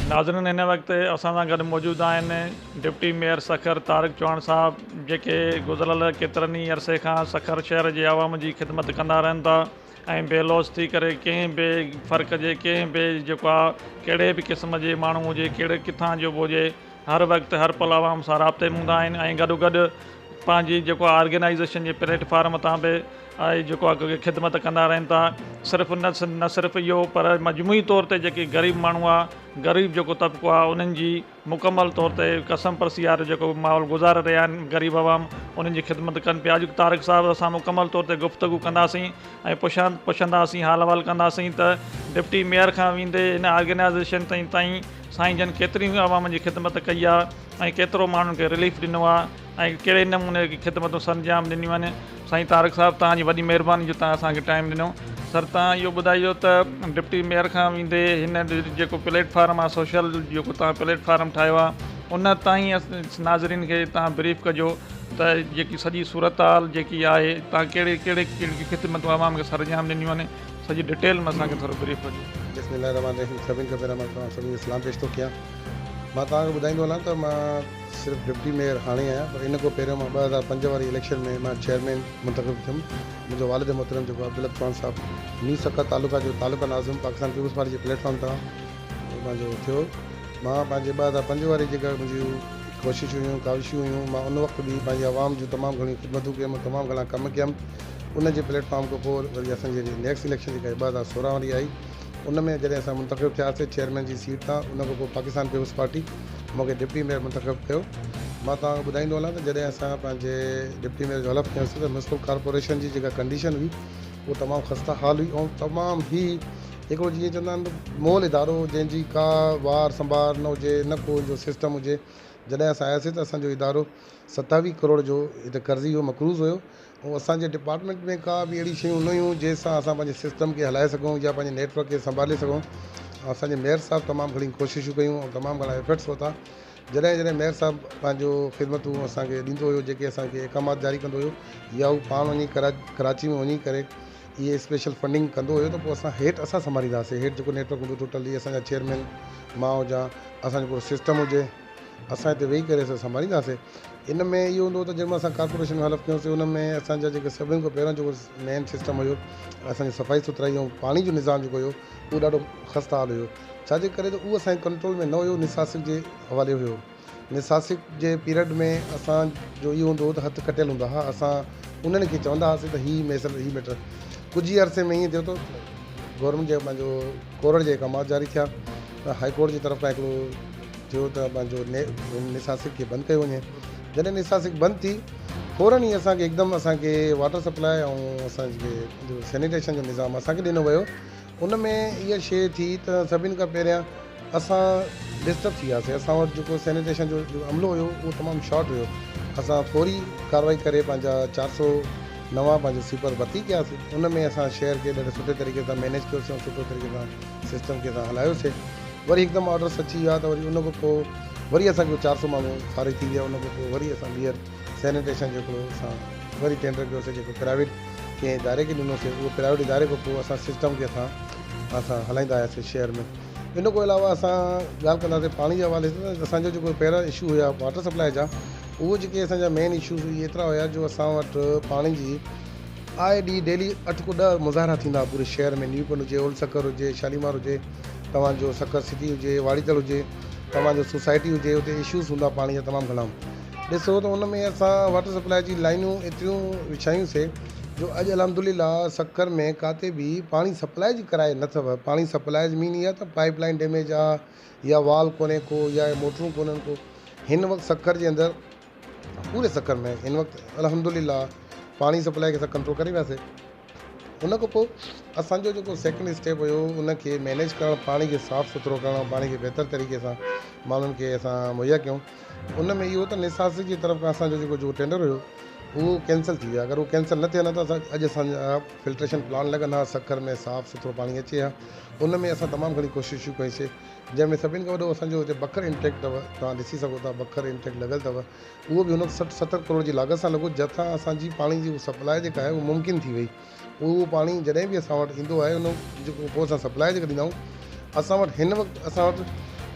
ناظرين هن وقت اسان سان گڏ موجود آهن ڊپٽي ميئر سکر طارق چوهاڻ صاحب جيڪي گذريل ڪيترن ئي عرصي کان سکر شهر جي عوام جي خدمت ڪندا رهن ٿا ۽ بي لوث ٿي ڪري ڪنهن به فرق جي ڪنهن به جيڪو آ ڪهڙي به قسم جي ماڻهو هجي ڪهڙي ڪٿان جو به هجي هر وقت هر پل عوام سان رابطي ۾ هوندا آهن ۽ گڏو گڏ پنهنجي جيڪو آ آرگنائيزيشن جي پليٽ فارم تان به آهي جيڪو آ ڪو خدمت ڪندا رهن ٿا صرف نه نه صرف اهو پر مجموعي طور تي جيڪي غريب ماڻهو آ غريب جيڪو طبقو آ انهن جي مڪمل طور تي قسم پرسي وارو جيڪو ماحول گذاري رهيا آهن غريب عوام انهن جي خدمت ڪن پيا اڄ طارق صاحب اسان مڪمل طور تي گفتگو ڪنداسين ۽ پڇان پڇنداسين حال احوال ڪنداسين ته ڊپٽي ميئر کان ويندي هن آرگنائيزيشن تائين سائين جن ڪيتري عوام جي خدمت ڪئي آهي ۽ ڪيترو ماڻهن کي رليف ڏنو آهي ۽ ڪهڙي نموني جي خدمتون سرانجام ڏنيون آهن سائين طارق صاحب توهان جي وڏي مهرباني جو توهان اسان کي ٽائيم ڏنو سر توهان اهو ٻڌائيو ته ڊپٽي ميئر کان ويندي هن جيڪو پليٽ فارم آهي سوشل جيڪو توهان پليٽ فارم ٺاهيو آهي ان تائين ناظرين کي توهان بريف ڪجو ته جيڪي سڄي صورت حال جيڪي آهي توهان ڪهڙي ڪهڙي ڪهڙي خدمتون عوام کي سرانجام ڏنيون آهن سڄي ڊٽيل ۾ اسان کي ٿورو بريف ڪجو بسم الله الرحمٰن الرحيم سڀني کان پهريان مان توهان سڀني کي سلام پيش ٿو ڪيان مان توهان کي ٻڌائيندو هلان ته مان صرف ڊپٽي ميئر هاڻي آهيان پر ان کان پهريون مان ٻه هزار پنج واري اليڪشن ۾ مان چيئرمين منتخب ٿيم منهنجو والد محترم جيڪو عبدالحق چوهان صاحب نيو سکر تعلقه جو تعلقه ناظم پاڪستان پيپلز پارٽي جي پليٽ فارم تان پنهنجو ٿيو مان پنهنجي ٻه هزار پنج واري جيڪا منهنجي ڪوششون هيون ڪاوشون هيون مان ان وقت به پنهنجي عوام جون تمام گهڻيون خدمتون ڪيم تمام گهڻا ڪم ڪيم ان جي پليٽ فارم کان پوء وري اسان جي نيڪسٽ اليڪشن جيڪا ٻه هزار سورهن واري آئي ان ۾ جڏهن اسان منتخب ٿياسي چيئرمين جي سيٽ تان ان کان پوء پاڪستان پيپلز پارٽي مون کي ڊپٽي ميئر منتخب ڪيو مان توهان کي ٻڌائيندو هلان ته جڏهن اسان پنهنجي ڊپٽي ميئر جو حلف کنيوسي ته ميونسپل ڪارپوريشن جي جيڪا ڪنڊيشن هئي اهو تمام خسته حال هئي ۽ تمام هي هڪڙو جيئن چوندا آهن مول ادارو جنهن جي ڪا وار سنڀار نه هجي نه ڪو ان جو سسٽم هجي جڏهن اسان آياسي ته اسان جو ادارو ستاويهه ڪروڙ جو هتي قرضي هو مقروض هيو ۽ اسان جي ڊپارٽمينٽ ۾ ڪا به اهڙي شيون نه هيون جنهن سان اسان پنهنجي سسٽم کي هلائي سگهون يا پنهنجي نيٽورڪ کي سنڀالي سگهون ۽ اسان جي ميئر صاحب تمام گهڻي ڪوششون ڪيون ۽ تمام گهڻا ايفرٽس ورتا جڏهن جڏهن ميئر صاحب پنهنجو خدمتون اسان کي ڏيندو هيو جيڪي اسان کي احڪامات جاري ڪندو هيو يا هو پاڻ وڃي ڪرا ڪراچي ۾ وڃي ڪري اهي اسپيشل فنڊنگ ڪندو هيو ته پوء اسان هيٺ اسان سنڀاليندا هئاسين هيٺ جيڪو نيٽورڪ هوندو ٽوٽلي اسان جا چيئرمين مان هجان اسان جو پورو سسٽم هجي اسان هتي ويهي ڪري سڀ سنڀالينداسين ان ۾ اهو هوندو هو ته جنهن مهل اسان ڪارپوريشن ۾ حلف ڪيوسين ان ۾ اسان جا جيڪي سڀني کان پهريان جيڪو مين سسٽم هيو اسان جي صفائي سٿرائي ۽ پاڻي جو نظام جيڪو هيو اهو ڏاڍو خسته حال هيو ڇاجي ڪري ته اهو اسان جي ڪنٽرول ۾ نه هيو نساسڪ جي حوالي هيو نساسڪ جي پيرڊ ۾ اسان جو اهو هوندو هو ته هٿ کٽيل هوندا ها اسان انهن کي چوندا هئاسين ته هي ميسل هي ميٽر ڪجهه ئي عرصي ۾ ائين ٿيو ته گورنمينٽ جي پنهنجو ڪورڙ جي احڪامات جاري ٿيا ته هاء ڪورٽ جي طرف کان هڪڙو ٿيو ته پنهنجو نيساسڪ کي بند ڪيو وڃي جڏهن نيساسڪ بند ٿي فورن ئي اسان کي هڪدم اسان کي واٽر سپلاء ۽ اسان کي جو سينيٽيشن جو نظام اسان کي ڏنو ويو ان ۾ اها شيء ٿي ته سڀني کان پهريان اسان ڊسٽرب ٿي وياسي اسان وٽ جيڪو سينيٽيشن جو عملو هيو اهو تمام شارٽ هيو اسان فوري ڪارروائي ڪري پنهنجا چار سو نوان پنهنجا سويپر ڀرتي ڪياسي ان ۾ اسان شهر کي ڏاڍي سٺي طريقي سان مينيج ڪيوسي ۽ سٺو طريقي سان سسٽم کي اسان هلايوسي وري هڪدم آرڊرس اچي ويا ته وري ان کان پوء وري اسان کي چار سؤ ماڻهو فارغ ٿي ويا ان کان پوء وري اسان ٻيهر سينيٽيشن جو هڪڙو اسان وري ٽينڊر ڪيوسي جيڪو پرائيويٽ ڪنهن اداري کي ڏنوسي اهو پرائيويٽ اداري کان پوء اسان سسٽم کي اسان اسان هلائيندا آياسي شهر ۾ ان کان علاوه اسان ڳالهه ڪنداسي پاڻي جي حوالي سان اسان جو جيڪو پهريان اشو هيا واٽر سپلاء جا اهو جيڪي اسان جا مين اشوز اهي ايترا هيا جو اسان وٽ پاڻي جي آء ڊي ڊيلي اٺ کان ڏهه مظاهرا ٿيندا پوري شهر ۾ نيو پنڊ هجي اولڊ سکر هجي شاليمار هجي توهان جو سکر سٽي هجي واڙي تڙ هجي توهان جو سوسائٽي هجي اتي اشوز هوندا پاڻي جا تمام گهڻا ڏسو ته ان ۾ اسان واٽر سپلاء جي لائنون ايتريون وڇايون سي جو اڄ الحمدلله سکر ۾ ڪاتي به پاڻي سپلاء جي ڪرائي نه اٿو پاڻي سپلاء جي مين اها ته پائيپ لائين ڊيميج آ يا وال ڪونهي ڪو يا موٽرون ڪونهن ڪو هن وقت سکر جي اندر پوري سکر ۾ ان وقت الحمدلله پاڻي سپلائي کي اسان ڪنٽرول ڪري وياسي ان کان پوء اسانجو جيڪو سيڪنڊ اسٽيپ هيو ان کي مينيج ڪرڻ پاڻي کي صاف سٿرو ڪرڻ پاڻي کي بهتر طريقي سان ماڻهن کي اسان مهيا ڪيون ان ۾ اهو ته نساس جي طرف کان اسانجو جيڪو جو ٽينڊر هيو اهو ڪينسل ٿي ويو اگر اهو ڪينسل نه ٿي ها ته اسان اڄ اسانجا فلٽريشن پلانٽ لڳن ها سکر ۾ صاف سٿرو پاڻي اچي ها ان ۾ اسان تمام گهڻي ڪوششون ڪيون سي جنهن ۾ سڀني کان وڏو اسان جو هتي بکر انٽيڪ اٿو توهان ڏسي سگهو ٿا بکر انٽيڪ لڳل اٿو اهو به هن وقت سٺ ستر ڪروڙ جي لاڳت سان لڳو جنهن سان اسان جي پاڻي جي سپلاء جيڪا آهي اها ممڪن ٿي وئي اهو پاڻي جڏهن به اسان وٽ ايندو آهي ان جيڪو پوء اسان سپلاء جيڪا ڏيندا آهيون اسان وٽ هن وقت اسان وٽ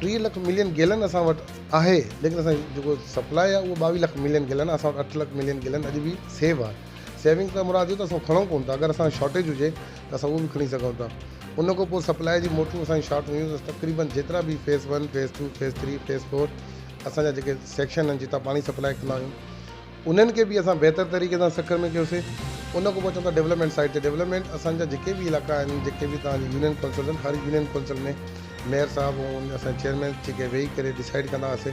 ٽيهه لک ملين گيلن اسان وٽ آهي ليڪن اسان جي جيڪو سپلاء آهي اهو ٻاويهه لک ملين گيلن اسان وٽ اٺ لک ملين گيلن اڄ به سيو آهي سيونگ کان مراد اهو ته اسان کڻون ڪونه ٿا اگر اسان شارٽيج هجي ته اسان اهو به کڻي سگهون ٿا. ان کان پوء سپلاء جي موٽرون اسان جون شارٽ هيون ته تقريبن جيترا به phase one, phase two, phase three, phase four اسان جا جيڪي سيڪشن آهن جتان پاڻي سپلاء ڪندا آهيون انهن کي به اسان بهتر طريقي سان سکر ۾ ڪيوسي. ان کان پوء اچون ٿا ڊولپمينٽ سائيڊ تي. ڊولپمينٽ اسان جا جيڪي به علائقا آهن جيڪي به توهان جي يونين ڪونسلز آهن هر يونين ڪونسل ۾ ميئر صاحب ۽ اسان جا چيئرمينز جيڪي ويهي ڪري ڊسائيڊ ڪندا هئاسي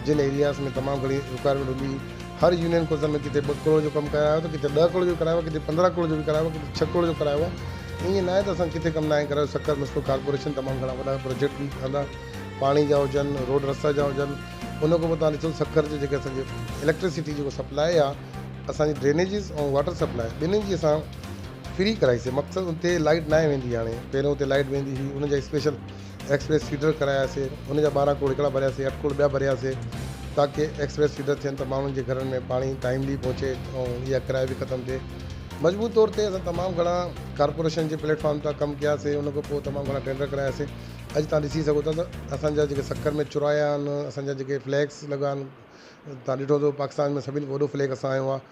جن ايرياز ۾ تمام گهڻي رڪوائرمينٽ هوندي هئي هر يونين ڪوتن ۾ ڪٿي ٻه ڪروڙ جو ڪم ڪرايو آهي ته ڪٿي ڏهه ڪروڙ جو ڪرايو آهي، ڪٿي پندرهن ڪروڙ جو به ڪرايو آهي، ڪٿي ڇهه ڪروڙ جو ڪرايو آهي. ائين ناهي ته اسان ڪٿي ڪم ناهي ڪرايو، سکر ميونسپل ڪارپوريشن تمام گهڻا وڏا پروجيڪٽ به ٺهندا، پاڻي جا هجن، روڊ رستا جا هجن. ان کان پوء توهان ڏسو سکر جي جيڪي اسان جي اليڪٽرسٽي جيڪو سپلاء آهي، اسان جي ڊرينيجز ۽ واٽر سپلاء ٻنهين جي اسان فري ڪرائي سي، مقصد اتي لائٽ ناهي ويندي هاڻي، پهريون اتي لائٽ ويندي هئي، ان جا اسپيشل. ايڪسپريس فيڊر ڪراياسين ان جا ٻارهن کوڙ هڪڙا ڀرياسين اٺ کوڙ ٻيا ڀرياسين تاڪه ايڪسپريس فيڊر ٿين ته ماڻهن جي گهرن ۾ پاڻي ٽائيملي پهچي ۽ اها ڪرايو به ختم ٿئي مجموعي طور تي اسان تمام گهڻا ڪارپوريشن جي پليٽ فارم تان ڪم ڪياسين ان کان پوء تمام گهڻا ٽينڊر ڪراياسين اڄ تان ڏسي سگهو ٿا ته اسان جا جيڪي سکر ۾ چرايا آهن اسان جا جيڪي فليگس لڳا آهن تان ڏٺو ته پاڪستان ۾ سڀني کان وڏو فليگ اسان جو آهي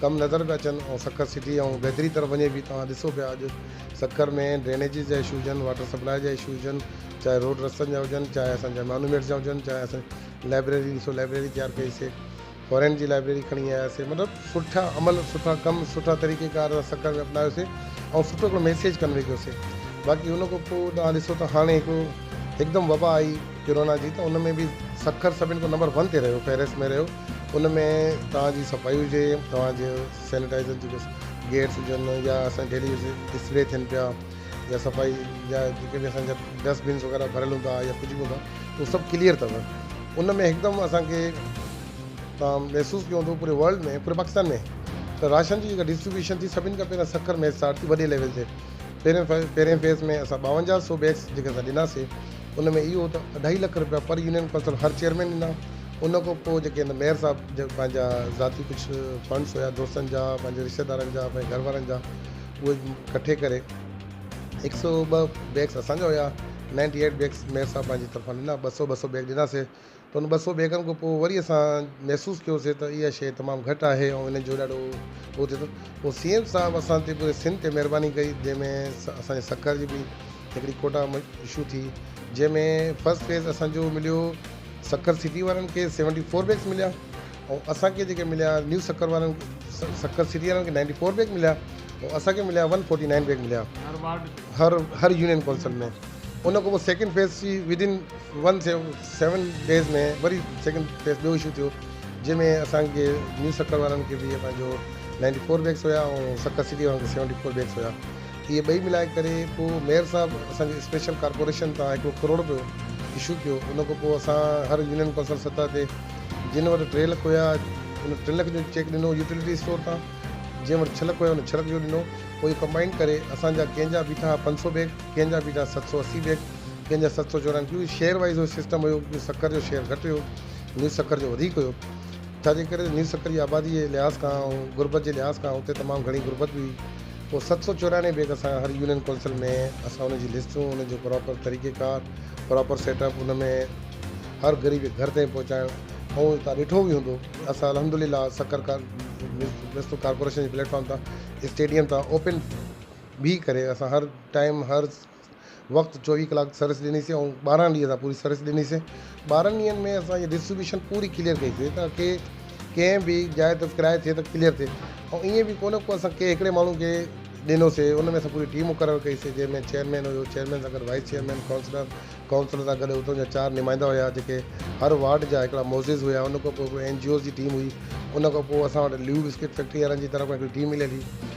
ڪم نظر پيا اچن ۽ سکر سٽي ۽ بهتري طرف وڃي پئي توهان ڏسو پيا اڄ سکر ۾ ڊرينيجز جا اشو هجن واٽر سپلاء جا اشو هجن چاهي روڊ رستن جا هجن چاهي اسان جا مانومينٽس جا هجن چاهي اسان لائبريري ڏسو لائبريري تيار ڪئي سي فورين جي لائبريري کڻي آيا سي مطلب سٺا عمل سٺا ڪم سٺا طريقي ڪار سکر ۾ اپنايو سي ۽ سٺو هڪڙو ميسيج ڪنوي ڪيو سي باقي ان کان پوء توهان ڏسو ته هاڻي هڪ هڪدم وبا آئي ڪرونا جي ته ان ۾ به سکر سڀن کان نمبر ون تي رهيو فهرست ۾ رهيو ان ۾ توهان جي صفائي هجي، توهان جي سينيٽائزر جيڪي گيٽس هجن يا اسان ڊيلي يوز اسپري ٿين پيا يا صفائي جا جيڪي به اسان جا ڊسٽ بنس وغيره ڀريل هوندا يا ڪجهه به هوندا ته هو سڀ ڪليئر اٿو ان ۾ هڪدم اسان کي توهان محسوس ڪيو هوندو پوري ورلڊ ۾ پوري پاڪستان ۾ ته راشن جي جيڪا ڊسٽريبيوشن ٿي سڀني کان پهريان سکر ۾ اسٽارٽ ٿي وڏي ليول تي پهرين پهرين فيز ۾ اسان ٻاونجاهه سو بيگس جيڪي اسان ڏناسي ان ۾ اهو ته اڍائي لک رپيا پر يونين ڪونسل هر چيئرمين ڏنا ان کان پوء جيڪي هن ميئر صاحب جا پنهنجا ذاتي ڪجهه فنڊس هيا دوستن جا پنهنجي رشته دارن جا پنهنجي گهر وارن جا اهي ڪٺي ڪري هڪ سو ٻه بيگس اسان جا هيا نائنٽي ايٽ بيگس ميئر صاحب پنهنجي طرفان ڏنا ٻه سو ٻه سو بيگ ڏناسي پر ان ٻه سؤ بيگن کان پوء وري اسان محسوس ڪيوسي ته اها شيء تمام گهٽ آهي ۽ ان جو ڏاڍو اهو ٿئي ٿو. پوء سي ايم صاحب اسان تي پوري سنڌ تي مهرباني ڪئي جنهن ۾ اسان جي سکر جي به هڪڙي ڪوٽا اشو ٿي جنهن ۾ فرسٽ فيز اسان جو مليو سکر سٽي وارن کي سيونٽي فور بيگس مليا ۽ اسان کي جيڪي مليا نيو سکر وارن سکر سٽي وارن کي نائنٽي فور بيگ مليا ۽ اسان کي مليا ون فورٽي نائن بيگ مليا هر هر يونين ڪونسل ۾ ان کان پوء سيڪنڊ فيز جي ودن ون سيو سيون ڊيز ۾ وري سيڪنڊ فيز ٻيو اشو ٿيو جنهن ۾ اسان کي نيو سکر وارن کي به پنهنجو نائنٽي فور بيگس هيا ۽ سکر سٽي وارن کي سيونٽي فور بيگس هيا اهي ٻئي ملائي ڪري پوء ميئر صاحب اسان جي اسپيشل ڪارپوريشن تان هڪڙو ڪروڙ رپيو اشو ڪيو ان کان پوء اسان هر يونين ڪونسل سطح تي جن وٽ ٽي لک هيا ان ٽن لکن جو چيڪ ڏنو يوٽيلٽي اسٽور تان جنهن وٽ ڇهه لک هيا ان ڇهه لک جو ڏنو پوء ڪمبائن ڪري اسان جا ڪنهن جا بيٺا پنج سؤ بيگ ڪنهن جا بيٺا ست سؤ اسي بيگ ڪنهن جا ست سؤ چورانوي ڪيونڪه شيئر وائيز اهو سسٽم هيو ڪيونڪه سکر جو شيئر گهٽ هيو نيو سکر جو وڌيڪ هيو ڇاجي ڪري نيو سکر جي آبادي جي لحاظ کان ۽ غربت جي لحاظ کان اتي تمام گهڻي غربت به هئي پوء ست سؤ چورانوي بيگ اسان هر يونين ڪونسل ۾ اسان ان جي لسٽون ان جو پراپر طريقي ڪار پراپر سيٽ اپ ان ۾ هر غريب کي گهر تائين پهچائڻ ۽ تان ڏٺو به هوندو اسان الحمد لله سکر ميونسپل ڪارپوريشن جي پليٽ فارم تان اسٽيڊيم تان اوپن بيهي ڪري اسان هر ٽائيم هر وقت چوويهه ڪلاڪ سروس ڏنيسي ۽ ٻارهن ڏينهن اسان پوري سروس ڏنيسي ٻارهن ڏينهن ۾ اسان ھيء ڊسٽريبيوشن پوري ڪليئر ڪئيسي تاڪي ڪنهن به جاء تي ڪرائي ٿئي ته ڪليئر ٿئي ۽ ائين به ڪونه ڪو اسان ڪنهن هڪڙي ماڻهو کي ڏنوسي ان ۾ اسان پوري ٽيم مقرر ڪئيسي جنهن ۾ چيئرمين هيو چيئرمين سان گڏ وائيس چيئرمين ڪائونسلر ڪائونسلر سان گڏ اتان جا چار نمائندا هيا جيڪي هر وارڊ جا هڪڙا معزز هيا ان کان پوء هڪڙو اين جي اوز جي ٽيم هئي ان کان پوء اسان وٽ ليو بسڪٽ فيڪٽري وارن جي طرف کان هڪڙي ٽيم مليل هئي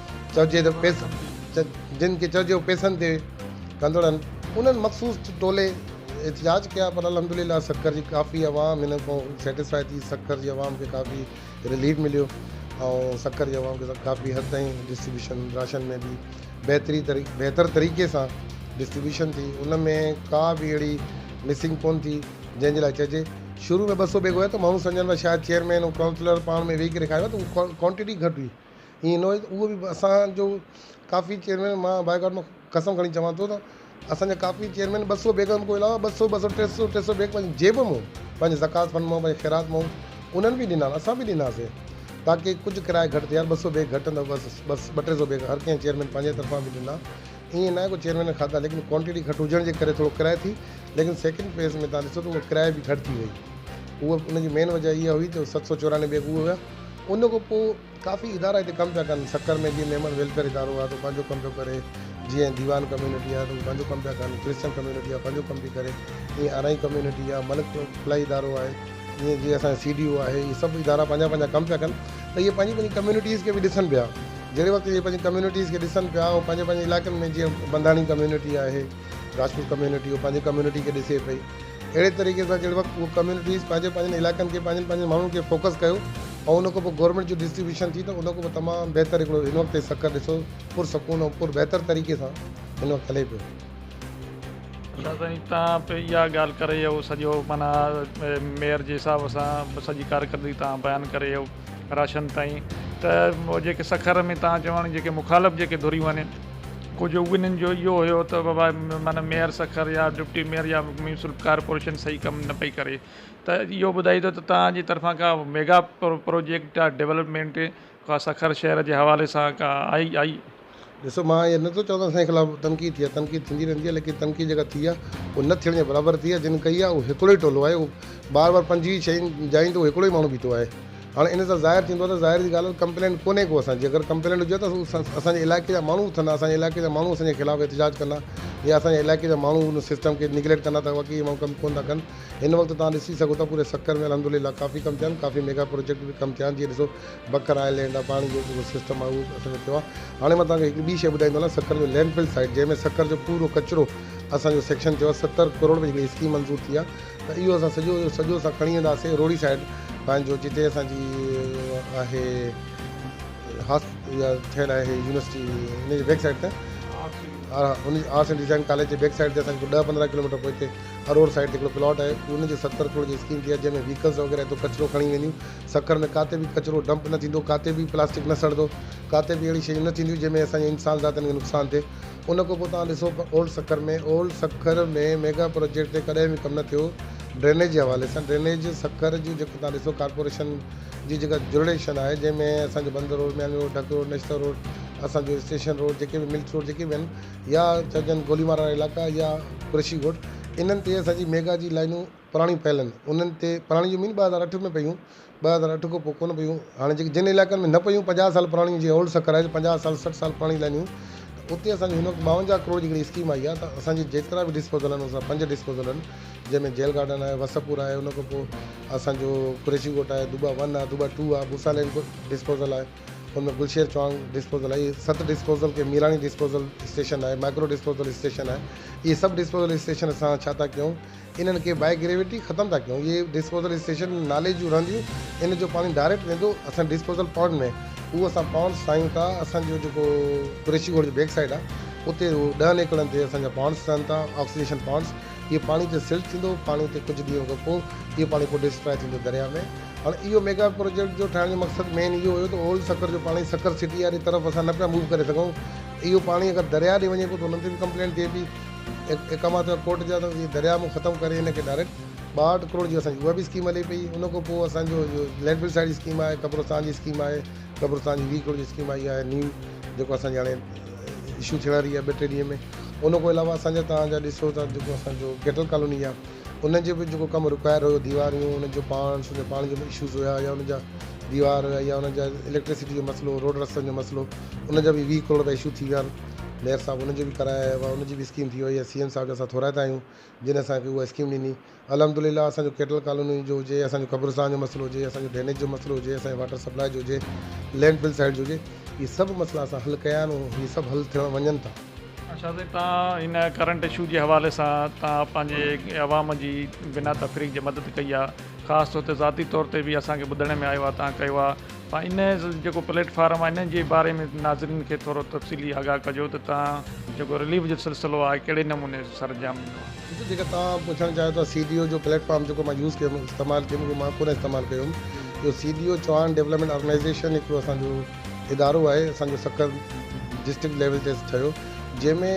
چئجي ته پيس جن کي چئجيو پيسن تي ڪندڙن انهن مخصوص ٽولي احتجاج ڪيا پر الحمدلله سکر جي ڪافي عوام هن کان سيٽسفائي ٿي سکر جي عوام کي ڪافي رليف مليو ۽ سکر جي عوام کي ڪافي حد تائين ڊسٽريبيوشن راشن ۾ به بهتري طريقي بهتر طريقي سان ڊسٽريبيوشن ٿي ان ۾ ڪا به اهڙي مسنگ ڪون ٿي جنهن جي لاء چئجي شروع ۾ ٻه سو بيگ هيا ته ماڻهو سمجهن پيا شايد چيئرمين ۽ ڪائونسلر پاڻ ۾ ويهي ڪري کائي ويا ته هو ڪوانٽٽي گهٽ هئي ائين نه هو اهو به اسانجو ڪافي چيئرمين مان باء گاڊ مان قسم کڻي چوان ٿو ته اسانجا ڪافي چيئرمين ٻه سؤ بيگن کان علاوه ٻه سؤ ٻه سؤ ٽي سؤ ٽي سؤ بيگ پنهنجي جيب مون پنهنجي زڪوات فنڊ مون پنهنجي خيرات مون انهن به ڏنا اسان به ڏناسي تاڪي ڪجهه ڪرايو گهٽ ٿئي ٻه سؤ بيگ گهٽ نه بس بس ٻه ٽي سؤ بيگ هر ڪنهن چيئرمين پنهنجي طرفان به ڏنا ائين نه ڪو چيئرمين کاڌا ليڪن ڪوانٽيٽي گهٽ هجڻ جي ڪري ٿورو ڪرايو ٿي ليڪن سيڪنڊ فيز ۾ تان ڏسو ته اهو ڪرايو به گهٽ ٿي وئي اهو ان جي مين وجهه اها هئي ته ست سؤ چورانوي بيگ اهو هيا ان کان پوء ڪافي ادارا هتي ڪم پيا ڪن سکر ۾ جيئن ميمڻ ويلفيئر ادارو آهي سو پنهنجو ڪم پيو ڪري جيئن ديوان ڪميونٽي آهي سو پنهنجو ڪم پيا ڪن ڪرسچن ڪميونٽي آهي پنهنجو ڪم پئي ڪري ائين ارائين ڪميونٽي آهي ملڪ فلاحي ادارو آهي ائين جيئن اسان سي ڊي او آهي هي سڀ ادارا پنهنجا پنهنجا ڪم پيا ڪن ته اهي پنهنجي پنهنجي ڪميونٽيز کي به ڏسن پيا جهڙي وقت اهي پنهنجي ڪميونٽيز کي ڏسن پيا ۽ پنهنجي پنهنجي علائقن ۾ جيئن بنداڻي ڪميونٽي آهي راجپوت ڪميونٽي هو پنهنجي ڪميونٽي کي ڏسي پئي اهڙي طريقي سان جهڙي وقت اهي ڪميونٽيز پنهنجي پنهنجن علائقن کي پنهنجن پنهنجن ماڻهن کي فوڪس ڪيو ۽ ان کان پوء گورنمينٽ جو ڊسٽريبيوشن ٿي ته ان کان پوء تمام بهتر هڪڙو هن وقت سکر ڏسو پر سڪون ۽ پر بهتر طريقي سان هن وقت هلي پيو. شاهه سائين تان پي اها ڳالهه ڪري اهو سڄو معنيٰ ميئر جي حساب سان سڄي ڪارڪردگي تان بيان ڪري اهو. راشن تائين ته جيڪي سکر ۾ تان چوڻ جيڪي مخالف جيڪي ڌريون آهن ڪجهه انهن جو اهو هيو ته بابا معنيٰ ميئر سکر يا ڊپٽي ميئر يا ميونسپل ڪارپوريشن صحيح ڪم نه پئي ڪري ته اهو ٻڌائي ته تانجي طرفان ڪا ميگا پرو پروجيڪٽ ڊولپمينٽ ڪا سکر شهر جي حوالي سان ڪا آئي آئي ڏسو مان اهي نه ٿو چوان ته اسان خلاف تنقيد ٿي آهي تنقيد ٿيندي رهندي آهي ليڪن تنقيد جيڪا ٿي آهي اهو نه ٿيڻ جي برابر ٿي آهي جن ڪئي آهي اهو هڪڙو ئي ٽولو آهي بار بار پنجويهه شين جاين تي هڪڙو ئي ماڻهو بيٺو آهي هاڻي ان سان ظاهر ٿيندو آهي ته ظاهر جي ڳالهه آهي ڪمپلينٽ ڪونهي ڪو اسان جي اگر ڪمپلينٽ هجي ته اسان جي علائقي جا ماڻهو اٿندا اسان جي علائقي جا ماڻهو اسان جي خلاف احتجاج ڪندا يا اسان جي علائقي جا ماڻهو ان سسٽم کي نگليڪٽ ڪندا ته واقعي ماڻهو ڪم ڪونه ٿا ڪن هن وقت تان ڏسي سگهو ٿا پوري سکر ۾ الحمدلله ڪافي ڪم ٿيا آهن ڪافي ميگا پروجيڪٽ به ڪم ٿيا آهن جي ڏسو بڪر آئلينڊ آ پاڻي جو جيڪو سسٽم آ اهو اصل ۾ ٿيو آ هاڻي مان توهان کي هڪ ٻي شئي ٻڌائيندو هلان سکر جو لينڊ فل سائيٽ جنهن ۾ سکر جو پورو ڪچرو اسان جو سيڪشن ٿيو آ ستر ڪروڙ ۾ جيڪي اسڪيم منظور ٿي آ ته اهو اسان سڄو جو سڄو اسان کڻي ويندا سي روهڙي سائيٽ پنهنجو جتي اسان جي آهي هاس يا ٺهيل آهي يونيورسٽي ان جي بيڪ سائيٽ ته آرٽس اينڊ ڊيزائن ڪاليج جي بيڪ سائيڊ تي اسان کي ڏهه پندرهن ڪلوميٽر پوئتي اروڙ سائيڊ تي هڪڙو پلاٽ آهي ان جو ستر ڪروڙ جي اسڪيم ٿي آهي جنهن ۾ ويهڪلز وغيره اتو ڪچرو کڻي وينديون سکر ۾ ڪاتي به ڪچرو ڊمپ نه ٿيندو، ڪاتي به پلاسٽڪ نه سڙندو، ڪاتي به اهڙي شيون نه ٿينديون جنهن ۾ اسان جي انسان ذاتن کي نقصان ٿئي. ان کان پوء توهان ڏسو پر old Sukkur ۾ old Sukkur ۾ mega project تي ڪڏهن به ڪم نه ٿيو ڊرينيج جي حوالي سان ڊرينيج سکر جون جيڪو توهان ڏسو ڪارپوريشن جي جيڪا جرڙيشن آهي جنهن ۾ اسان جو Bunder road Mian road Dhak road Nishtar road اسان جو اسٽيشن روڊ جيڪي به ملٽس روڊ جيڪي به آهن يا چئجن گولي مارا وارا علائقا يا قريشي ڳوٺ انهن تي اسان جي ميگا جي لائنون پراڻيون پهلن انهن تي پراڻيون جي مين ٻه هزار اٺ ۾ پيون ٻه هزار اٺ کان پوء ڪونه پيون هاڻي جيڪي جن علائقن ۾ نه پيون پنجاهه سال پراڻيون جي اولڊ سڪرائيز پنجاهه سال سٺ سال پراڻيون لائنيون ته اتي اسان جي هن وقت ٻاونجاهه ڪروڙ جي هڪڙي اسڪيم آئي آهي ته اسان جي جيترا به ڊسپوزل آهن ان سان پنج ڊسپوزل آهن جنهن ۾ جيل گارڊن آهي وسپور آهي ان کان پوء اسان جو قريشي ڳوٺ آهي دوبا ون آهي دوبا ٽو آهي بوسا لين ڊسپوزل آهي ان ۾ گلشير چوانگ ڊسپوزل آهي اهي ست ڊسپوزل کي ميراڻي ڊسپوزل اسٽيشن آهي مائڪرو ڊسپوزل اسٽيشن آهي اهي سڀ ڊسپوزل اسٽيشن اسان ڇا ٿا ڪيون انهن کي بائي گريويٽي ختم ٿا ڪيون اهي ڊسپوزل اسٽيشن نالي جون رهنديون ان جو پاڻي ڊائريڪٽ ويندو اسان ڊسپوزل پونڊ ۾ اهو اسان پونڊ ٺاهيون ٿا اسان جو جيڪو قريشي ڳوٺ جي بيڪ سائيڊ آهي اتي ڏهن ايڪڙن تي اسان جا پونڊس ٺهن ٿا آڪسيڊيشن پونڊس اهي پاڻي اتي سلٽ ٿيندو پاڻي اتي ڪجهه ڏينهن کان پوء اهو پاڻي پوء ڊسٽراء ٿيندو درياء ۾ هاڻي اهو ميگا پروجيڪٽ جو ٺاهڻ جو مقصد مين اهو هيو ته اولڊ سکر جو پاڻي سکر سٽي واري طرف اسان نه پيا موو ڪري سگهون اهو پاڻي اگر درياء ڏي وڃي پيو ته انهن تي به ڪمپلينٽ ٿئي پئي اقامات جا ڪوٽ جا اهي درياهه مون ختم ڪري ان کي ڊائريڪٽ ٻاهٺ ڪروڙ جي اسان جي اها به اسڪيم هلي پئي ان کان پوء اسان جو جو لينڊ بل سائيڊ جي اسڪيم آهي قبرستان جي اسڪيم آهي قبرستان جي ويهه ڪروڙ جي اسڪيم آئي آهي نيو جيڪو اسان جي هاڻي اشو ٿيڻ واري آهي ٻه ٽي ڏينهن ۾ ان کان علاوه اسان جا تان جا ڏسو ته جيڪو اسان جو گيٽل ڪالوني آهي ان جو به جيڪو ڪم رڪايل هيو ديواريون ان جو پاڻ سن جو پاڻي جو به اشوز هيا يا ان جا ديوار يا ان جا اليڪٽرسٽي جو مسئلو روڊ رستن جو مسئلو ان جا به ويهه ڪروڙ رپيا اشو ٿي ويا آهن ميئر صاحب ان جو به ڪرايا هيا هئا ان جي به اسڪيم ٿي وئي سي ايم صاحب جا اسان ٿورائتا آهيون جن اسانکي اها اسڪيم ڏني الحمدلله اسان جو ڪيٽل ڪالوني جو هجي اسان جو قبرستان جو مسئلو هجي اسان جو ڊرينيج جو مسئلو هجي اسان جي واٽر سپلاء جو هجي لينڊ فل سائيڊ جو هجي اهي سڀ مسئلا اسان حل ڪيا آهن ۽ اهي سڀ حل ٿيڻ وڃن ٿا اچا سائين تان ان ڪرنٽ اشو جي حوالي سان تان پنهنجي عوام جي بنا تفريق جي مدد ڪئي آ خاص طور تي ذاتي طور تي به اسان کي ٻڌڻ ۾ آيو آ تان ڪيو آ تان ان جيڪو پليٽ فارم آ ان جي باري ۾ ناظرين کي ٿورو تفصيلي آگاهه ڪجو ته تان جيڪو رليف جو سلسلو آ ڪهڙي نموني سر انجام ڏنو آ. ڏسو جيڪا تان پڇڻ چاهيو ٿا سي ڊي او جو پليٽ فارم جيڪو مان يوز ڪيم استعمال ڪيم اهو مان ڪونه استعمال ڪيو هيم جو C D O Chauhan development organization هڪڙو اسان جو ادارو آهي اسان جو سکر ڊسٽرڪٽ ليول تي ٺهيو جنهن ۾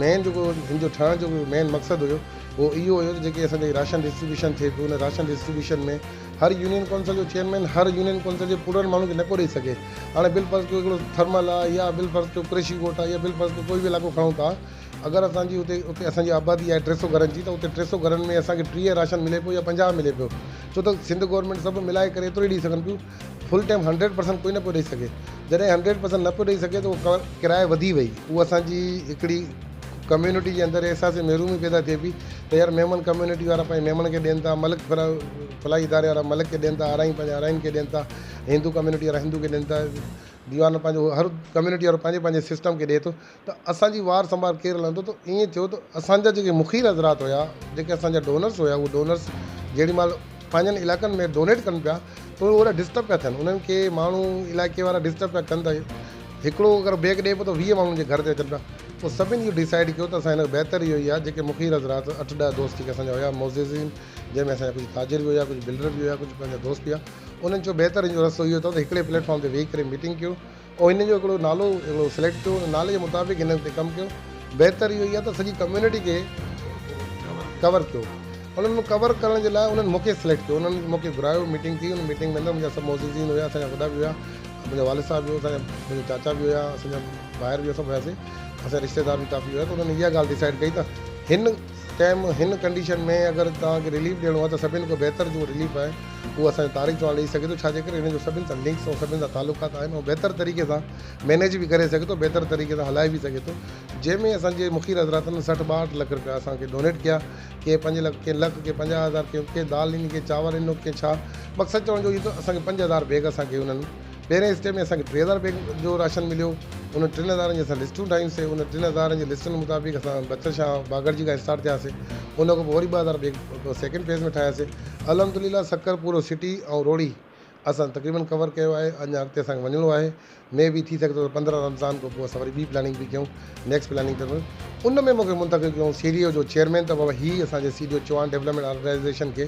مين جيڪو هن جو ٺهڻ جو مين مقصد هيو اهو اهو هيو ته جيڪي اسان جي راشن ڊسٽريبيوشن ٿئي پيو ان راشن ڊسٽريبيوشن ۾ هر يونين ڪونسل جو چيئرمين هر يونين ڪونسل جي پورڙن ماڻهو کي نڪو ڏئي سگهي هاڻي بل فرض ڪيو هڪڙو ٿرمل آهي يا بل فرض ڪيو ڪريشي ڪوٽ آهي يا بل فرض ڪيو ڪوئي به علائقو کڻون ٿا اگر اسان جي اتي اتي اسان جي آبادي آهي ٽي سو گهرن جي ته اتي ٽي سو گهرن ۾ اسان کي ٽيهه راشن ملي پيو يا پنجاهه ملي پيو ڇو ته سنڌ گورنمينٽ سڀ ملائي ڪري ايترو ئي ڏئي سگهن پيون فل ٽائيم هنڊريڊ پرسنٽ ڪوئي نه پيو ڏئي سگهي جڏهن هنڊريڊ پرسنٽ نه پيو ڏئي سگهي ته اهو ڪرايو وڌي وئي اهو اسانجي هڪڙي ڪميونٽي جي اندر احساس محرومي پيدا ٿئي پئي ته يار ميمڻ ڪميونٽي وارا پنهنجي ميمڻ کي ڏين ٿا ملڪ ڦلا فلاحي اداري وارا ملڪ کي ڏين ٿا آرائين پنهنجي آرائين کي ڏين ٿا هندو ڪميونٽي وارا هندو کي ڏين ٿا ديوان پنهنجو هر ڪميونٽي وارو پنهنجي پنهنجي سسٽم کي ڏئي ٿو ته اسان جي وار سنڀال ڪير لهندو ته ائين ٿيو ته اسان جا جيڪي مخير حضرات هيا جيڪي اسان جا ڊونرس هيا اهي ڊونرس جيڏي مهل پنهنجن علائقن ۾ ڊونيٽ ڪن پيا ته اهي اهڙا ڊسٽرب پيا ٿين انهن کي ماڻهو علائقي وارا ڊسٽرب پيا ڪن ته هڪڙو اگر بيگ ڏئي پيو ته ويهه ماڻهن جي گهر تي اچن پيا پوء سڀني اهو ڊسائيڊ ڪيو ته اسان کي بهتر اهو ئي آهي جيڪي مخير حضرات اٺ ڏهه دوست جيڪي اسان جا هيا معززين جنهن ۾ اسان جا ڪجهه تاجر به هيا ڪجهه بلڊر به هيا ڪجهه پنهنجا دوست به هيا انهن چيو بهتر ان جو رستو اهو اٿو ته هڪڙي پليٽ فارم تي ويهي ڪري ميٽنگ ڪيو او هن جو هڪڙو نالو هڪڙو سليڪٽ ڪيو ان نالي جي مطابق هن تي ڪم ڪيو بهتر اهو ئي آهي ته سڄي ڪميونٽي کي ڪور ڪيو انهن مان ڪور ڪرڻ جي لاء انهن مونکي سليڪٽ ڪيو انهن مونکي گهرايو ميٽنگ ٿي ان ميٽنگ ۾ اندر منهنجا سڀ معززين هيا اسان جا وڏا به هيا منهنجا والد صاحب به هو اسان جا منهنجا چاچا به هيا اسان جا ڀائر به هيا سڀ هياسي اسان رشتيدار به ڪافي هيا ته انهن اها ڳالهه ڊسائيڊ ڪئي ته هن تنهن ۾ هن ڪنڊيشن ۾ اگر توهان کي رليف ڏيڻو آهي ته سڀني کان بهتر جو رليف آهي اهو اسان جو طارق چوهاڻ ڏئي سگهي ٿو ڇا جي ڪري هن جو سڀني سان لنڪس ۽ سڀني سان تعلقات آهن ۽ بهتر طريقي سان مينيج به ڪري سگهي ٿو بهتر طريقي سان هلائي به سگهي ٿو جنهن ۾ اسان جي مخير حضراتن سٺ ٻاهٺ لک رپيا اسان کي ڊونيٽ ڪيا ڪي پنج لک ڪي لک ڪي پنجاهه هزار ڪي دال ڏني ڪي چانور ڏنو ڪي ڇا مقصد چوڻ جو اهو ته اسان کي پنج هزار بيگ اسان کي انهن پهرين اسٽيپ ۾ اسان کي ٽي هزار بيگ جو راشن مليو انهن ٽن هزارن جي اسان لسٽون ٺاهيون سي انهن ٽن هزارن جي لسٽن مطابق اسان بچل شاهه باگڙجي کان اسٽارٽ ٿياسي ان کان پوء وري ٻه هزار بيگ سيڪنڊ فيز ۾ ٺاهياسي الحمد لله سکر پورو سٽي ۽ روهڙي اسان تقريبن ڪور ڪيو آهي اڃا اڳتي اسان کي وڃڻو آهي مي بي ٿي سگهي ٿو ته پندرهن رمضان کان پوء اسان وري ٻي پلاننگ به ڪيون نيڪسٽ پلاننگ ته ان ۾ مونکي منتخب ڪيون سي ڊي او جو چيئرمين ته بابا هي اسان جي C D O Chauhan development organization کي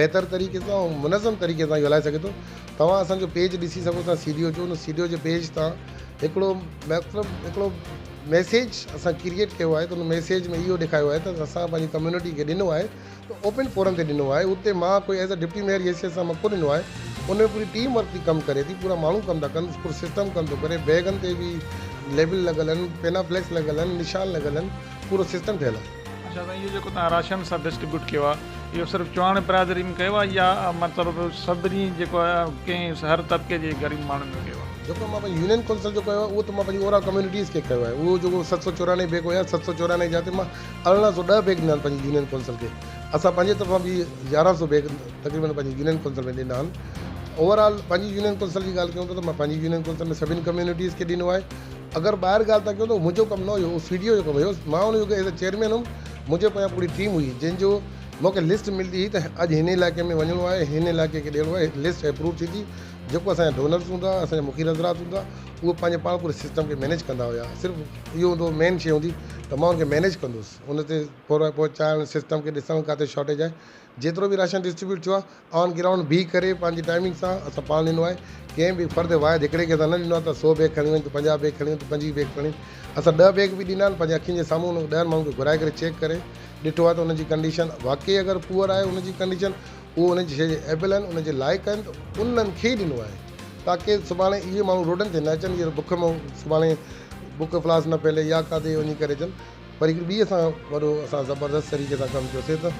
بهتر طريقي سان ۽ منظم طريقي سان اهو هلائي سگهي ٿو توهان اسان جو پيج ڏسي سگهو ٿا سيڊيو جو ان سيڊيو جي پيج تان هڪڙو مطلب هڪڙو ميسيج اسان ڪريئيٽ ڪيو آهي ته ان ميسيج ۾ اهو ڏيکايو آهي ته اسان پنهنجي ڪميونٽي کي ڏنو آهي ته اوپن فورم تي ڏنو آهي اتي مان ڪوئي ايز اي ڊپٽي ميئر جي حيثيت سان مان ڪو ڏنو آهي ان ۾ پوري ٽيم ورڪ ٿي ڪم ڪري ٿي پورا ماڻهو ڪم ٿا ڪن پورو سسٽم ڪم ٿو ڪري بيگن تي به ليبل لڳل آهن پينا فليڪس لڳل آهن نشان لڳل آهن پورو سسٽم ٺهيل آهي اچا سائين اهو جيڪو توهان راشن سا ڊسٽريبيوٽ ڪيو آ اهو صرف چوهاڻي برادري ۾ ڪيو آ يا مطلب سڀني جيڪو آ ڪنهن هر طبقي جي غريب ماڻهن ۾ ڪيو آ. جيڪو مان پنهنجي يونين ڪونسل جو ڪيو آ اهو ته مان پنهنجي اوورال ڪميونٽيز کي ڪيو آهي اهو جيڪو ست سؤ چورانهي بيگ هيا ست سؤ چورانهي جاتي مان ارڙهن سؤ ڏهه بيگ ڏنا آهن پنهنجي يونين ڪونسل کي اسان پنهنجي طرفان به يارهن سؤ بيگ تقريبن پنهنجي يونين ڪونسل ۾ ڏنا آهن اوورال پنهنجي يونين ڪونسل جي ڳالهه ڪيون ٿا ته مان پنهنجي يونين ڪونسل ۾ سڀني ڪميونٽيز کي ڏنو آهي اگر ٻاهر ڳالهه ٿا ڪيو ته اهو منهنجو ڪم نه هيو اهو سي ڊي او جو ڪم هيو مان ان يوگي ايز اي چيئرمين هيم منهنجي پويان پوري ٽيم هئي جنهن جو مونکي لسٽ ملدي هئي ته اڄ هن علائقي ۾ وڃڻو آهي هن علائقي کي ڏيڻو آهي لسٽ اپروو ٿيندي جيڪو اسان جا ڊونرز هوندا اسان جا مخير حضرات هوندا اهي پنهنجي پاڻ پوري سسٽم کي مينيج ڪندا هيا صرف اهو هوندو هو مين شي هوندي ته مان ان کي مينيج ڪندوس ان تي پورا پهچائڻ سسٽم کي ڏسڻ ڪاٿي شارٽيج آهي جيترو به راشن ڊسٽريبيوٽ ٿيو آهي آن گرائونڊ بيهي ڪري پنهنجي ٽائمنگ سان اسان پاڻ ڏنو آهي ڪنهن به فرد واحد هڪڙي کي اسان نه ڏنو آهي ته سو بيگ کڻي وڃ تو پنجاهه بيگ کڻي وڃ تو پنجويهه بيگ کڻي اسان ڏهه بيگ به ڏنا آهن پنهنجي اکين جي سامهون ان ڏهن ماڻهن کي گهرائي ڪري چيڪ ڪري ڏٺو آهي ته ان جي ڪنڊيشن واقعي اگر پوئر آهي ان جي ڪنڊيشن اهو ان جي شيء جي ايبل آهن ان جي لائق آهن ته انهن کي ئي ڏنو آهي تاڪي سڀاڻي اهي ماڻهو روڊن تي نه اچن جيئن بک ۾ سڀاڻي بک افلاس نه ڦهلي يا ڪاٿي وڃي ڪري اچن وري هڪڙي ٻي اسان وڏو اسان زبردست طريقي سان ڪم ڪيوسي ته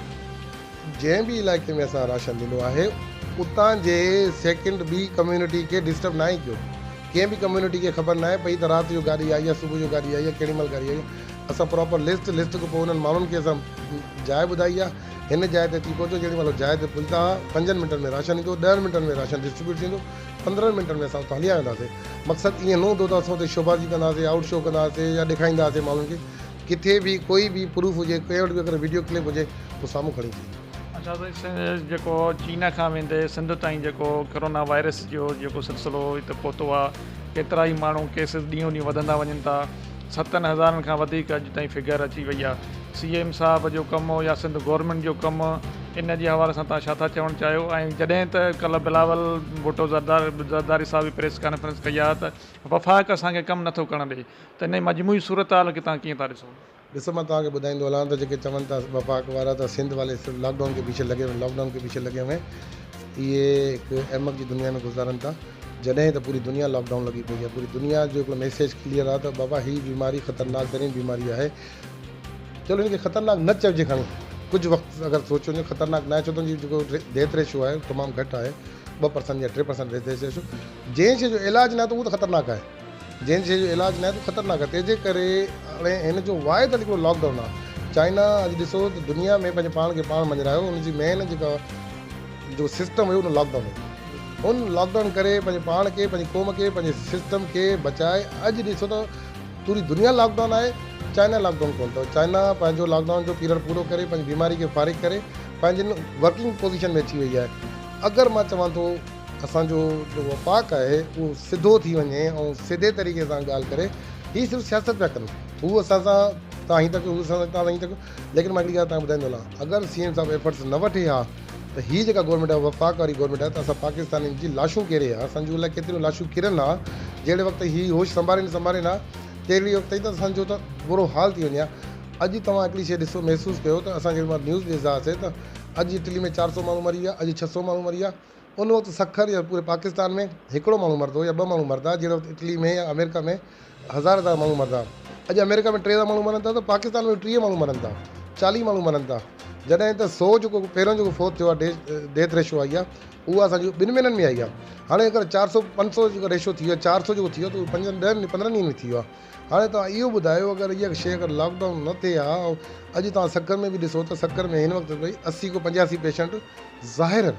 جنهن به علائقي ۾ اسان راشن ڏنو آهي اتان جي سيڪنڊ ٻي ڪميونٽي کي ڊسٽرب ناهي ڪيو ڪنهن به ڪميونٽي کي خبر ناهي پئي ته رات جو گاڏي آئي يا صبح جو گاڏي آئي يا ڪهڙي مهل گاڏي آئي اسان پراپر لسٽ لسٽ کان پوء انهن ماڻهن کي اسان جاء ٻڌائي آهي هن جاء تي اچي پهچو جهڙي مهل جاء تي پهچندا هئا پنجن منٽن ۾ راشن ايندو ڏهن منٽن ۾ راشن ڊسٽريبيوٽ ٿيندو پندرهن منٽن ۾ اسان اتان هليا وينداسين. مقصد ائين نه هوندو ته اسان اتي شوبازي ڪنداسين، آئوٽ شو ڪنداسين يا ڏيکارينداسين ماڻهن کي. ڪٿي به ڪوئي به پروف هجي، ڪنهن وٽ به اگر وڊيو ڪلپ هجي هو سامهون کڻي اچي. اچا سائين سنڌ جيڪو چين کان ويندي سنڌ تائين جيڪو ڪرونا وائرس جو جيڪو سلسلو هتي پهتو آهي ڪيترا ئي ماڻهو ڪيسز ڏينهون ڏينهن وڌندا وڃن ٿا ستن هزارن کان وڌيڪ اڄ تائين فگر اچي وئي آهي سي ايم صاحب جو ڪم يا سنڌ گورنمينٽ جو ڪم ان جي حوالي سان تها ڇا ٿا چوڻ چاهيو ۽ جڏهن ته ڪلهه بلاول ڀٽو زردار زرداري صاحب پريس ڪانفرنس ڪئي آهي ته وفاق اسان کي ڪم نٿو ڪرڻ ڏئي ته انهي مجموعي صورتحال کي تها ڪيئن ٿا ڏسو. ڏسو مان توهان کي ٻڌائيندو هلان ته جيڪي چون ٿا وفاق وارا ته سنڌ والي صرف لاڪ ڊائون ڪي پيڇي لگي هئي لاڪ ڊائون ڪي پيڇي لگي هئي اهي هڪ احمق جي دنيا ۾ گذارن ٿا جڏهن ته پوري دنيا لاڪ ڊائون لڳي پئي آهي پوري دنيا جو هڪڙو ميسيج ڪليئر آهي ته بابا هي بيماري خطرناڪ ترين بيماري آهي چلو هن کي خطرناڪ نه چئجي کڻي ڪجهه وقت اگر سوچيو وڃي خطرناڪ ناهي ڇو ته هن جو ڊيٿ ريشو آهي تمام گهٽ آهي ٻه پرسنٽ يا ٽي پرسنٽ ڊيٿ ريشو جنهن شي جو علاج ناهي ته اهو ته خطرناڪ آهي جنهن شيء جو علاج نهايت خطرناڪ آهي تنهن جي ڪري هاڻي هن جو واحد حل هڪڙو لاڪ ڊائون آهي چائنا اڄ ڏسو ته دنيا ۾ پنهنجي پاڻ کي پاڻ مڃرايو ان جي مين جيڪا جيڪو سسٽم هيو ان لاڪ ڊائون هيو ان لاڪ ڊائون ڪري پنهنجي پاڻ کي پنهنجي قوم کي پنهنجي سسٽم کي بچائي اڄ ڏسو ته پوري دنيا لاڪ ڊائون آهي چائنا لاڪ ڊائون ڪون ٿو چائنا پنهنجو لاڪ ڊائون جو پيريڊ پورو ڪري پنهنجي بيماري کي فارغ ڪري پنهنجي ورڪنگ پوزيشن ۾ اچي وئي آهي اگر مان چوان ٿو اسان جو جو وفاق آهي اهو سڌو ٿي وڃي ۽ سڌي طريقي سان ڳالهه ڪري هي صرف سياست پيا ڪن هو اسان سان تان هين ٿا ڪيو هو اسان سان تان هين ٿا ڪيو ليڪن مان هڪڙي ڳالهه تان ٻڌائيندو هلان اگر سي ايم صاحب ايفرٽس نه وٺي ها ته هي جيڪا گورنمينٽ آهي وفاق واري گورنمينٽ آهي ته اسان پاڪستانين جي لاشون ڪيري ها اسان جون الائي ڪيتريون لاشون ڪرن ها جهڙي وقت هي هوش سنڀارين نه سنڀارين ها تهڙي وقت تائين ته اسان جو ته برو حال ٿي وڃي ها اڄ توهان هڪڙي شيء ڏسو محسوس ڪيو ته اسان جي مال نيوز ڏسدا هاسي ته اڄ اٽلي ۾ چار سؤ ماڻهو مري ويا اڄ ڇهه سؤ ماڻهو مري ويا ان وقت سکر يا پوري پاڪستان ۾ هڪڙو ماڻهو مرد هو يا ٻه ماڻهو مرد ها جهڙي وقت اٽلي ۾ يا آمريڪا ۾ هزار هزار ماڻهو مرد ها. اڄ آمريڪا ۾ ٽيهزار ماڻهو مرن ٿا ته پاڪستان ۾ به ٽيهه ماڻهو مرن ٿا، چاليهه ماڻهو مرن ٿا. جڏهن ته سو جيڪو پهريون جيڪو فوت ٿيو آهي ڊيٿ ريشو آئي آهي اها اسان جي ٻن مهينن ۾ آئي آهي. هاڻي اگر چار سو پنج سو جيڪو ريشو ٿي ويو آهي چار سو جيڪو ٿي ويو آهي ته اهو پنجن ڏهن پندرهن ڏينهن ۾ ٿي ويو آهي. هاڻي توهان اهو ٻڌايو اگر اها شيء اگر لاڪ ڊائون نه ٿئي ها ۽ اڄ توهان سکر ۾ به ڏسو ته سکر ۾ هن وقت تائين اسي کان پنجاسي پيشنٽ ظاهر آهن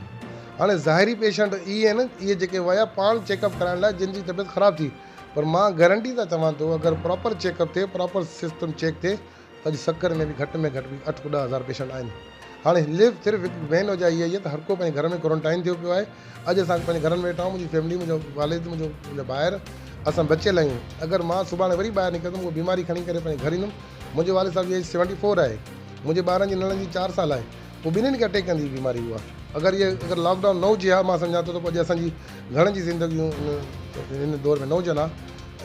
هاڻي ظاهري پيشنٽ اهي آهن اهي جيڪي ويا پاڻ چيڪ اپ ڪرائڻ لاء جن جي طبيعت خراب ٿي پر مان گرنٽي سان چوان ٿو اگر پراپر چيڪ اپ ٿئي پراپر سسٽم چيڪ ٿئي اڄ سکر ۾ به گهٽ ۾ گهٽ به اٺ کان ڏهه هزار پيشنٽ آهن. هاڻي ليف صرف هڪ مين وجهه اها ئي آهي ته هر ڪو پنهنجي گهر ۾ ڪورنٽائن ٿيو پيو آهي. اڄ اسان پنهنجي گهرن ۾ ويٺا آهيون منهنجي فيملي منهنجو والد منهنجو منهنجا ڀائر اسان بچيل آهيون اگر مان سڀاڻي وري ٻاهر نڪرندم اها بيماري کڻي ڪري پنهنجي گهر ايندم منهنجي والد صاحب جي ايج سيونٽي فور آهي منهنجي ٻارن جي نڙن جي چار سال آهي پوء ٻنهين کي اٽيڪ ڪندي هي بيماري اها اگر اهي اگر لاڪ ڊائون نه هجي ها مان سمجهان ٿو ته اڄ اسان جي گهڻن جي زندگيون هن دور ۾ نه هجن ها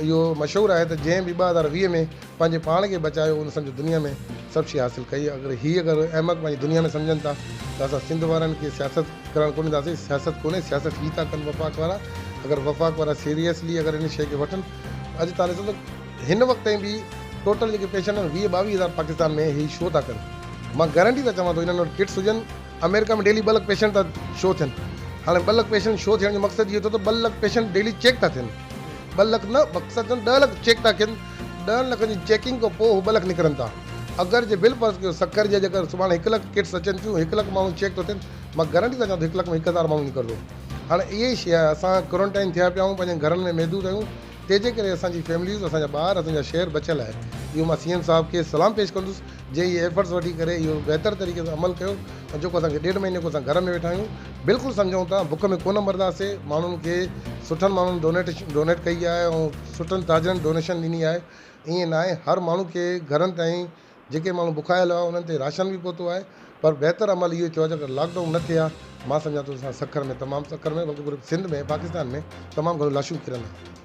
اهو مشهور آهي ته جنهن به ٻه هزار ويهه ۾ پنهنجي پاڻ کي بچايو ان سمجهه دنيا ۾ سڀ شي حاصل ڪئي اگر هي اگر احمق پنهنجي دنيا ۾ سمجهن ٿا ته اسان سنڌ وارن کي سياست ڪرڻ ڪونه ڏينداسين سياست ڪونهي سياست هي ٿا ڪن وفاق وارا اگر وفاق وارا سيريسلي اگر ان شي کي وٺن اڄ تان ڏسو ته هن وقت تائين به ٽوٽل جيڪي پيشنٽ آهن ويهه ٻاويهه هزار پاڪستان ۾ هي شو ٿا ڪن مان گرنٽي سان چوان ٿو انهن وٽ ڪٽس هجن آمريڪا ۾ ڊيلي ٻه لک پيشنٽ ٿا شو ٿين هاڻي ٻه لک پيشنٽ شو ٿيڻ جو مقصد اهو ٿيو ته ٻه لک پيشنٽ ڊيلي چيڪ ٿا ٿين ٻه لک نه مقصد ڏهه لک چيڪ ٿا ٿين ڏهن لکن جي چيڪنگ کان پوء هو ٻه لک نڪرن ٿا. اگر جي بل فرض ڪيو سکر جي اڄ اگر سڀاڻي هڪ لک ڪٽس اچن ٿيون هڪ لک ماڻهو چيڪ ٿو ٿين مان گرنٽي ٿا ڪيان ته هڪ لک ۾ هڪ هزار ماڻهو نڪردو هاڻ اهي ئي شي آهي اسان ڪورنٽائن ٿيا پيا آهيون پنهنجن گهرن ۾ محدود آهيون تنهنجي ڪري اسان جي فيمليز اسان جا ٻار اسان جا شهر بچيل آهي اهو مان سي ايم صاحب کي سلام پيش ڪندس جي اي ايفرٽس وٺي ڪري اهو بهتر طريقي سان عمل ڪيو ۽ جيڪو اسان کي ڏيڍ مهيني کان اسان گهر ۾ ويٺا آهيون بلڪل سمجهون ٿا بک ۾ ڪونه مرنداسي ماڻهن کي سٺن ماڻهن ڊونيٽ ڊونيٽ ڪئي آهي ۽ سٺن تاجرن ڊونيشن ڏني آهي ائين ناهي هر ماڻهو کي گهرن تائين جيڪي ماڻهو بکايل هئا انهن تي راشن به پهتو آهي پر بهتر عمل اهو ٿيو آهي جيڪڏهن لاڪ ڊائون نه ٿئي ها مان سمجهان ٿو اسان سکر ۾ تمام سکر ۾ بلڪل پوري سنڌ ۾ پاڪستان ۾ تمام گهڻيون لاشون ڪرن ها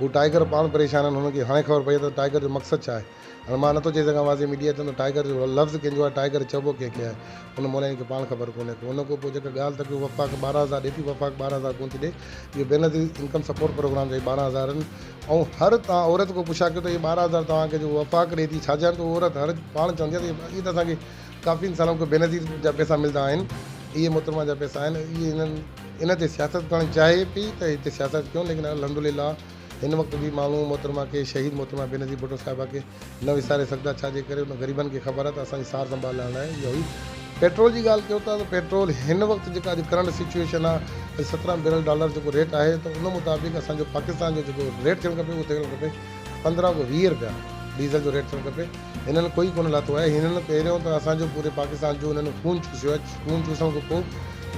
هو ٽائيگر پاڻ پريشان آهن، هنن کي هاڻي خبر پئي آهي ته ٽائيگر جو مقصد ڇا آهي. هاڻي مان نٿو چئي سگهان واضح ميڊيا چوندو ٽائيگر جو لفظ ڪنهن جو آهي ٽائيگر چئبو ڪنهن کي آهي ان مولائين کي پاڻ خبر ڪونهي ڪو ان کان پوء جيڪا ڳالهه ته ڪيو وفاق ٻارهن هزار ڏي ٿي وفاق ٻارهن هزار ڪونه ٿي ڏي اهو بينظير انڪم سپورٽ پروگرام جا ئي ٻارهن هزار آهن ۽ هر توهان عورت کان پڇا ڪيو ته اهي ٻارهن هزار توهان کي جيڪو وفاق ڏي ٿي ڇا جا آهن ته عورت هر پاڻ چوندي آهي ته اهي ته اسان کي ڪافي انسانن کي بينظير جا پيسا ملدا آهن، اهي محترمه جا پيسا آهن، اهي هنن ان تي سياست ڪرڻ چاهي پئي ته هتي سياست ڪيون ليڪن الحمدلله هن وقت به ماڻهو محترمه کي شهيد محترمه بينظير ڀٽو صاحبه کي نه وساري سگهندا ڇا جي ڪري ان غريبن کي خبر آهي ته اسان جي سار سنڀال لاء اها هئي. پيٽرول جي ڳالهه ڪيو ٿا ته پيٽرول هن وقت جيڪا اڄ ڪرنٽ سچوئيشن آهي اڄ سترهن بيرل ڊالر جيڪو ريٽ آهي ته ان مطابق اسان جو پاڪستان جو جيڪو ريٽ ٿيڻ کپي اهو ٿيڻ کپي پندرهن کان ويهه رپيا ڊيزل جو ريٽ ٿيڻ کپي هنن ڪوئي ڪونه لاٿو آهي، هنن پهريون ته اسان جو پوري پاڪستان جو هنن خون چوسيو آهي، خون چوسڻ کان پوء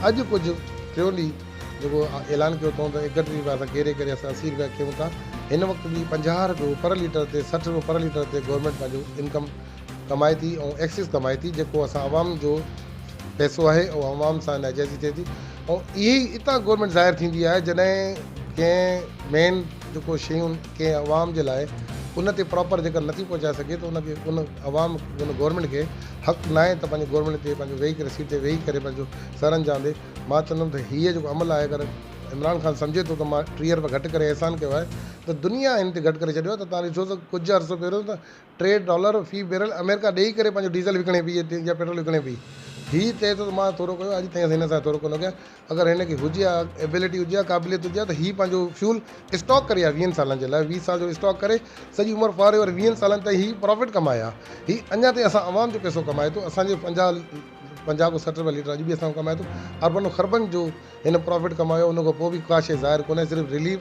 اڄ ڪجهه ٽيون ڏينهن جيڪو اعلان ڪيو اٿئون ته ايڪهٺ رپيا اسان ڪيري ڪري اسان اسي رپيا ڪيون ٿا، هن وقت به پنجاهه رپيو پر ليٽر تي سٺ رپيو پر ليٽر تي گورنمينٽ پنهنجو انڪم ڪمائي ٿي ۽ ايڪسز ڪمائي ٿي جيڪو اسان عوام جو پئسو آهي ۽ عوام سان ناجائزي ٿئي ٿي ۽ اهي ئي اتان گورنمينٽ ظاهر ٿيندي آهي جڏهن ڪنهن مين جيڪو شيون ڪنهن عوام جي لاء ان تي پراپر جيڪر نٿي پهچائي سگهي ته ان کي ان عوام ان گورنمينٽ کي حق ناهي ته پنهنجي گورنمينٽ تي پنهنجو ويهي ڪري سيٽ تي ويهي ڪري پنهنجو سر انجام ڏي مان چوندم ته هيء جيڪو عمل آهي اگر عمران خان سمجهي ٿو ته مان ٽيهه ارب گهٽ ڪري احسان ڪيو آهي ته دنيا هن تي گهٽ ڪري ڇڏيو آهي ته تان ڏسو ته ڪجهه عرصو پهريون ته ٽي ڊالر في بيرل آمريڪا ڏيئي ڪري پنهنجو ڊيزل وڪڻي پئي يا پيٽرول وڪڻي پئي. هي چئي ٿو ته مان ٿورو ڪيو آهي، اڄ تائين اسان هن سان ٿورو ڪونه ڪيو آهي. اگر هن کي هجي ها، ايبلٽي هجي ها، قابليت هجي ها ته هي پنهنجو فيول اسٽاڪ ڪري ها ويهن سالن جي لاء، ويهه سال جو اسٽاڪ ڪري سڄي عمر فار ايور ويهن سالن تائين هي پرافٽ ڪمائي ها. هي اڃا تائين اسان عوام جو پئسو ڪمائي ٿو، اسان جي پنجاهه پنجاهه کان سٺ رپيا ليٽر اڄ به اسان کان ڪمائي ٿو. اربن و خربن جو هن پرافٽ ڪمايو آهي ان کان پوء به ڪا شيء ظاهر ڪونه آهي صرف رليف،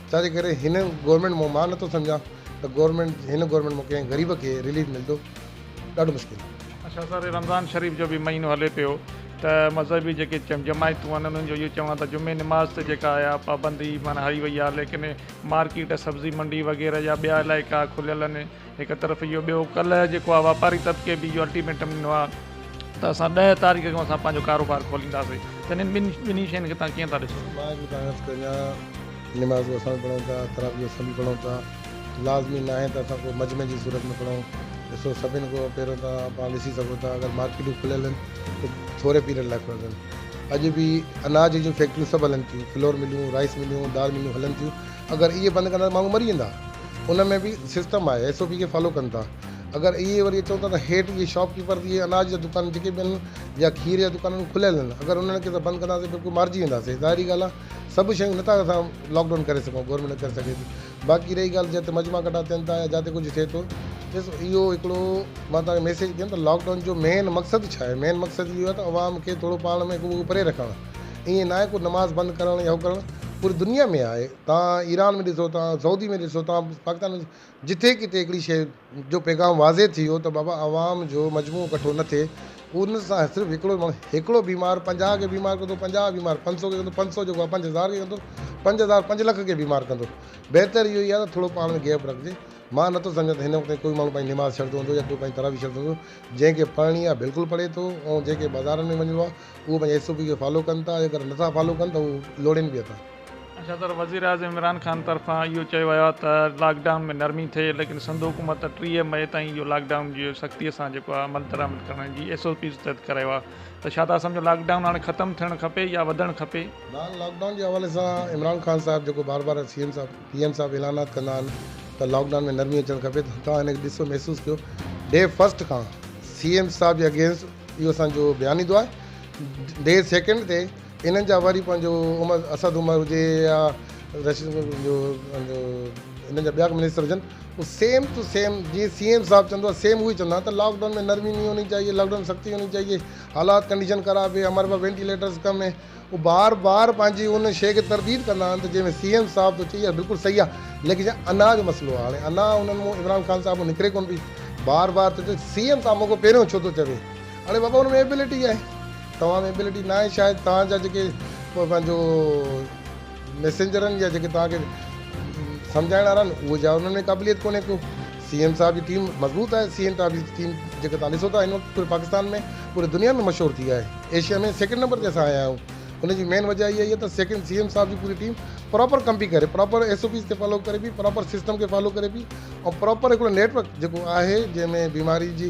ڇا جي ڪري هن گورنمينٽ مون مان نٿو سمجهان ته گورنمينٽ هن گورنمينٽ مون ڪنهن غريب کي رليف ملندو ڏاڍو مشڪل آهي. اڇا سر رمضان شريف جو به مهينو هلي پيو ته مذهبي جيڪي جماعتون آهن انهن جو اهو چوڻ آهي ته جمعي نماز تي جيڪا آهي اها پابندي معنيٰ هئي وئي آهي ليڪن مارڪيٽ سبزي منڊي وغيره يا ٻيا علائقا کليل آهن هڪ طرف اهو ٻيو ڪلهه جيڪو آهي واپاري طبقي به اهو الٽيميٽم ڏنو آهي ته اسان ڏهه تاريخ کان اسان پنهنجو ڪاروبار کولينداسين ته انهن ٻن ٻنهي شين کي تان ڪيئن ٿا ڏسو؟ مان به تان عرض ڪريان نمازون اسان به پڙهون ٿا تراويحون اسان به پڙهون ٿا لازمي ناهي ته اسان ڪو مجمع جي صورت ۾ پڙهون ڏسو سڀن کان پهريون ته پاڻ ڏسي سگهو ٿا اگر مارڪيٽون کليل آهن ته ٿوري پيريڊ لاء کليل آهن اڄ به اناج جون فيڪٽريون سڀ هلن ٿيون فلور مليون رائيس مليون دال مليون هلن ٿيون اگر اهي بند ڪندا ته ماڻهو مري ويندا. ان ۾ به سسٽم آهي ايس او پي کي فالو ڪن ٿا اگر اهي وري اچون ٿا ته هيٺ اهي شاپ ڪيپر اهي اناج جا دڪان جيڪي به آهن يا کير جا دڪان آهن کليل آهن اگر انهن کي اسان بند ڪنداسين بلڪل مارجي وينداسين ظاهري ڳالهه آهي سڀ شيون نه ٿا اسان لاڪ ڊائون ڪري سگهون گورنمينٽ نه ڪري سگهي ٿي باقي رهي ڳالهه جتي مجما ڪٽا ٿين ٿا يا جتي ڪجهه ٿئي ٿو ڏس اهو هڪڙو مان تنهن کي ميسيج ڪيم ته لاڪ ڊائون جو مين مقصد ڇا آهي مين مقصد اهو آهي ته عوام کي ٿورو پاڻ ۾ هڪ ٻئي کان پري رکڻ ائين نه آهي ڪو نماز بند ڪرڻ يا هو ڪرڻ پوري دنيا ۾ آهي توهان ايران ۾ ڏسو توهان سعودي ۾ ڏسو توهان پاڪستان ۾ جتي ڪٿي هڪڙي شيء جو پيغام واضح ٿي ويو ته بابا عوام جو مجموعو ڪٺو نه ٿئي ان سان صرف هڪڙو ماڻهو هڪڙو بيمار پنجاهه کي بيمار ڪندو پنجاهه بيمار پنج سؤ کي ڪندو پنج سؤ جيڪو آهي پنج هزار کي ڪندو پنج هزار پنج لک کي بيمار ڪندو بهتر اهو ئي آهي ته ٿورو پاڻ ۾ گيپ رکجي مان نٿو سمجهان ته هن وقت تائين ڪوئي ماڻهو پنهنجي نماز ڇڏندو هوندو يا ڪوئي پنهنجي تراويح ڇڏندو هوندو جنهن کي پڙهڻي آهي بلڪل پڙهي ٿو ۽ جنهن کي بازارن ۾ وڃڻو آهي اهو پنهنجي ايس او پي کي فالو ڪن ٿا اگر نٿا فالو ڪن ته هو لوڙين به اٿا صدر وزيراعظم عمران خان طرفان اهو چيو ويو آهي ته لاڪ ڊائون ۾ نرمي ٿئي ليڪن سنڌ حڪومت ٽيهه مئي تائين اهو لاڪ ڊائون جي سختي سان جيڪو آهي عمل درآمد ڪرڻ جي ايس او پيز تحت ڪرايو آهي ته ڇا تهان سمجهو لاڪ ڊائون هاڻي ختم ٿيڻ کپي يا وڌڻ کپي؟ نان لاڪ ڊائون جي حوالي سان عمران خان صاحب جيڪو بار بار C M sahib P M sahib اعلانات ڪندا آهن ته لاڪ ڊائون ۾ نرمي اچڻ کپي ته توهان هن کي ڏسو محسوس ڪيو ڊي فرسٽ کان سي ايم صاحب جي اگينسٽ اهو اسان جو بيان ايندو آهي ڊي سيڪنڊ تي انهن جا وري پنهنجو عمر اسد عمر هجي يا رشيد جو پنهنجو انهن جا ٻيا ڪو منسٽر هجن هو سيم ٽو سيم جيئن سي ايم صاحب چوندو آهي سيم اهو ئي چوندا آهن ته لاڪ ڊائون ۾ نرمي نهي هوني چاهيي لاڪ ڊائون ۾ سختي هوني چاهيي حالات ڪنڊيشن خراب هي هماري پاس وينٽيليٽرز ڪم هي هو بار بار پنهنجي ان شيء کي ترديد ڪندا آهن ته جنهن ۾ سي ايم صاحب ٿو چئي اها بلڪل صحيح آهي ليڪن جا انا جو مسئلو آهي هاڻي انا انهن مون عمران خان صاحب مون نڪري ڪونه پئي بار بار ٿو چئي سي ايم صاحب مون کان پهريون ڇو ٿو چوي اڙي بابا ان ۾ ايبلٽي آهي توهان ۾ ايبلٽي ناهي شايد توهان جا جيڪي پنهنجو ميسينجر آهن يا جيڪي توهان کي سمجهائڻ وارا آهن اهو جا انهن ۾ قابليت ڪونهي ڪو سي ايم صاحب جي ٽيم مضبوط آهي سي ايم صاحب جي ٽيم جيڪي توهان ڏسو ٿا هن وقت پوري پاڪستان ۾ پوري دنيا ۾ مشهور ٿي آهي ايشيا ۾ سيڪنڊ نمبر تي اسان آيا آهيون ان جي مين وجه اها آهي ته سيڪنڊ سي ايم صاحب جي پوري ٽيم پراپر ڪم پي ڪري پراپر ايس او پيز کي فالو ڪري پي پراپر سسٽم کي فالو ڪري پي ۽ پراپر هڪڙو نيٽورڪ جيڪو آهي جنهن ۾ بيماري جي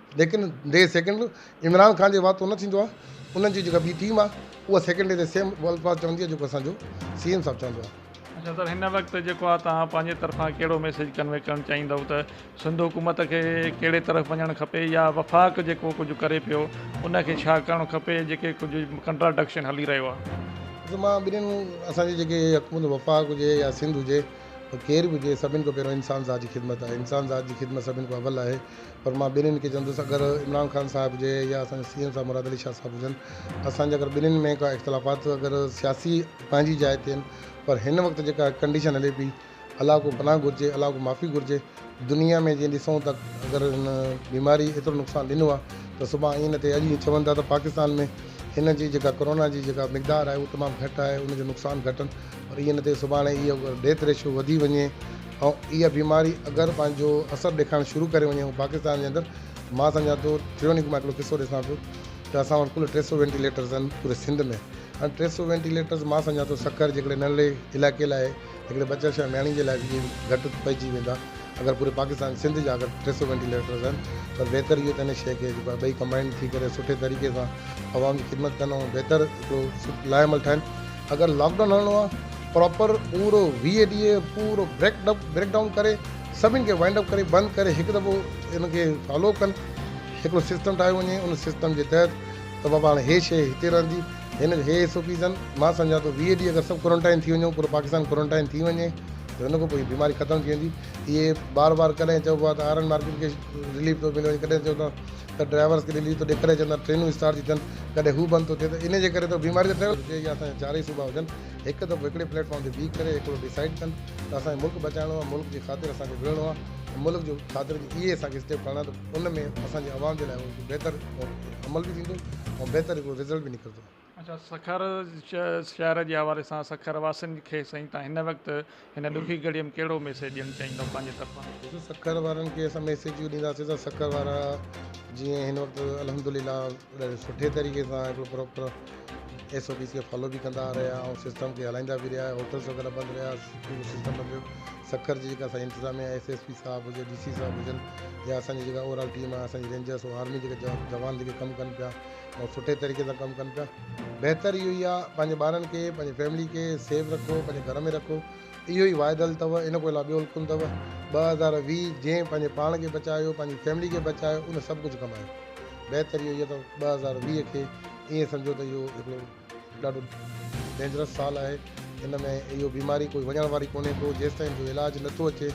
ليڪن دي سيڪنڊ عمران خان جي واتو نه ٿيندو آ انهن جي جيڪا ٻي ٽيم آ اها سيڪنڊ دي سيم اهي الفاظ چوندي آ جيڪو اسان جو سي ايم صاحب چوندو آ. اچا سر هن وقت جيڪو آ توهان پنهنجي طرفان ڪهڙو ميسيج ڪنوي ڪرڻ چاهيندؤ ته سنڌ حڪومت کي ڪهڙي طرف وڃڻ کپي يا وفاق جيڪو ڪجهه ڪري پيو ان کي ڇا ڪرڻ کپي جيڪي ڪجهه ڪنٽراڊڪشن هلي رهيو آ. ڏسو مان ٻنهين اسان جي جيڪي حڪومت وفاق هجي يا سنڌ هجي ڪير به هجي سڀني کان پهريون انسان ذات جي خدمت آهي انسان ذات جي خدمت سڀني کان اول آهي پر مان ٻنهين کي چوندس اگر عمران خان صاحب هجي يا اسان جا سي ايم صاحب مراد علي شاهه صاحب هجن اسان جا اگر ٻنهين ۾ ڪا اختلافات اگر سياسي پنهنجي جاء تي آهن پر هن وقت جيڪا ڪنڊيشن هلي پئي الله ڪو پناهه گهرجي الله ڪو معافي گهرجي دنيا ۾ جيئن ڏسون ته اگر هن بيماري ايترو نقصان ڏنو آهي ته صبح ائين نه ٿئي اڄ ائين چون ٿا ته پاڪستان ۾ هن جي جيڪا ڪورونا جي جيڪا مقدار آهي اها تمام گهٽ آهي ان جو نقصان گهٽ آهن پر ائين نه ٿئي سڀاڻي اهو ڊيٿ ريشو وڌي وڃي ۽ اها بيماري اگر پنهنجو اثر ڏيکارڻ شروع ڪري وڃي ۽ پاڪستان جي اندر مان سمجهان ٿو ٽريونڪ مان هڪڙو قصو ڏسان پيو ته اسان وٽ ڪل ٽي سؤ وينٽيليٽرز آهن پوري سنڌ ۾ هاڻي ٽي سؤ وينٽيليٽرز مان سمجهان ٿو سکر جي هڪڙي ننڍڙي علائقي لاء هڪڙي ٻچڙ شايد نياڻي جي لاء به ائين گهٽ پئجي ويندا اگر پوري پاڪستان سنڌ جا اگر ٽي سؤ وينٽيليٽرز آهن پر بهتر اهو ته هن شيء کي جيڪو ٻئي ڪمبائنڊ ٿي ڪري سٺي طريقي سان عوام جي خدمت ڪن ۽ بهتر هڪڙو لاء عمل ٺاهن اگر لاڪ ڊائون هڻڻو آهي پراپر پورو ويهه ڏينهن پورو بريڪ ڊپ بريڪ ڊائون ڪري سڀني کي وائنڊ اپ ڪري بند ڪري هڪ دفعو ان کي فالو ڪن هڪڙو سسٽم ٺاهيو وڃي ان سسٽم جي تحت ته بابا هاڻي هي شيء هتي رهندي هن هي ايس او پيز آهن مان سمجهان ٿو ويهه ڏينهن اگر سڀ ڪورنٽائن ٿي وڃو پورو پاڪستان ڪورنٽائن ٿي وڃي ته ان کان پوء هي بيماري ختم ٿي ويندي اهي بار بار ڪڏهن چئبو آهي ته آئرن مارڪيٽ کي رليف ٿو ملي وڃي ڪڏهن چئو ٿا ته ڊرائيورس کي رليف ٿو ڏي ڪڏهن چئندا ٽرينون اسٽارٽ ٿي ٿين ڪڏهن هو بند ٿو ٿئي ته ان جي ڪري ته بيماري ته ٽريول جي اسان جا چارئي صوبا هجن هڪ دفعو هڪڙي پليٽ فارم تي بيهي ڪري هڪڙو ڊيسائيڊ ڪن ته اسان کي ملڪ بچائڻو آهي، ملڪ جي خاطر اسان کي وڙهڻو آهي ۽ ملڪ جي خاطر جي اهي اسان کي اسٽيپ کڻڻا آهن ته ان ۾ اسان جي عوام جي لاء اهو هڪ بهتر عمل به ٿيندو ۽ بهتر هڪڙو رزلٽ به نڪرندو. اچا سکر شهر جي حوالي سان سکر واسين کي سائين تان هن وقت هن ڏکي گهڙيء ۾ ڪهڙو ميسيج ڏيڻ چاهيندؤ پنهنجي طرفان؟ ڏسو سکر وارن کي اسان ميسيجون ڏينداسين ته سکر وارا جيئن هن وقت الحمدلله ڏاڍي سٺي طريقي سان هڪڙو پراپر ايس او پيز کي فالو به ڪندا رهيا ۽ سسٽم کي هلائيندا به رهيا هوٽلس وغيره بند رهيا پورو سسٽم بند رهيو سکر جي جيڪا اسانجي انتظاميا ايس ايس پي صاحب هجي ڊي سي صاحب هجن يا اسانجي جيڪا اوور آل ٽيم آهي اسانجي رينجرس ۽ آرمي جيڪا جوان جيڪي ڪم ڪن پيا ۽ سٺي طريقي سان ڪم ڪن پيا بهتر اهو ئي آ پنهنجي ٻارن کي پنهنجي فيملي کي سيف رکو پنهنجي گهر ۾ رکو اهو ئي واحد حل اٿو ان کان علاوه ٻيو حل ڪونه اٿو ٻه هزار ويهه جنهن پنهنجي پاڻ کي بچايو پنهنجي فيملي کي بچايو ان سڀ ڪجهه ڪمايو بهتر اهو ئي اٿو ٻه هزار ويهه کي ائين سمجهو ته اهو هڪڙو ڏاڍو ڊينجرس سال آهي ان ۾ اهو بيماري ڪوئي وڃڻ واري ڪونهي ڪو جيستائين جو علاج نٿو اچي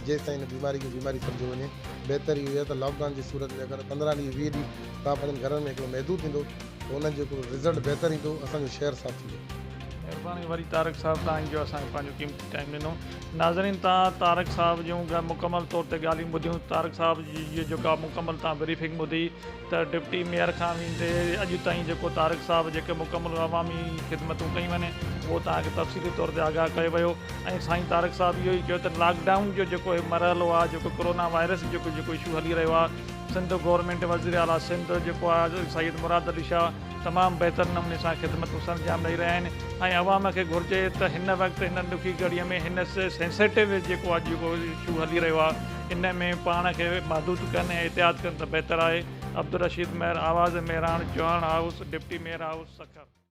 جيستائين ان بيماري کي بيماري سمجهيو وڃي بهتر اهو آهي ته لاڪ ڊائون جي صورت ۾ اگر پندرهن ڏينهن ويهه ڏينهن تان پنهنجن گهرن ۾ هڪڙو محدود ٿيندو ته انهن جو هڪڙو رزلٽ بهتر ايندو اسان جو شهر صاف ٿيندو. مھرباني وري طارق صاحب تھان جو اسان کي پنھنجو قيمتي ٽائيم ڏنو ناظرين تھان طارق صاحب جون مڪمل طور تي ڳالھيون ٻڌيون طارق صاحب جي جيڪا مڪمل تھان بريفنگ ٻڌي ته ڊپٽي ميئر کان ويندي اڄ تائين جيڪو طارق صاحب جيڪي مڪمل عوامي خدمتون ڪيون آهن اهو توهان کي تفصيلي طور تي آگاهه ڪيو ويو ۽ سائين طارق صاحب اهو ئي چيو ته لاڪ ڊائون جو جيڪو هي مرحلو آهي جيڪو ڪورونا وائرس جيڪو جيڪو اشو هلي رهيو آهي سنڌ گورنمينٽ وزير اعليٰ سنڌ جيڪو آهي سيد مراد علي شاهه تمام بهتر نموني سان خدمتون سرانجام ڏئي رهيا آهن ۽ عوام کي گهرجي ته هن وقت هن ڏکي گهڙي ۾ هن سينسيٽو جيڪو آهي جيڪو اشو هلي رهيو آهي ان ۾ پاڻ کي محدود ڪن ۽ احتياط ڪن ته بهتر آهي عبدالرشيد مهر آواز Mehran Chauhan house deputy mayor house Sukkur.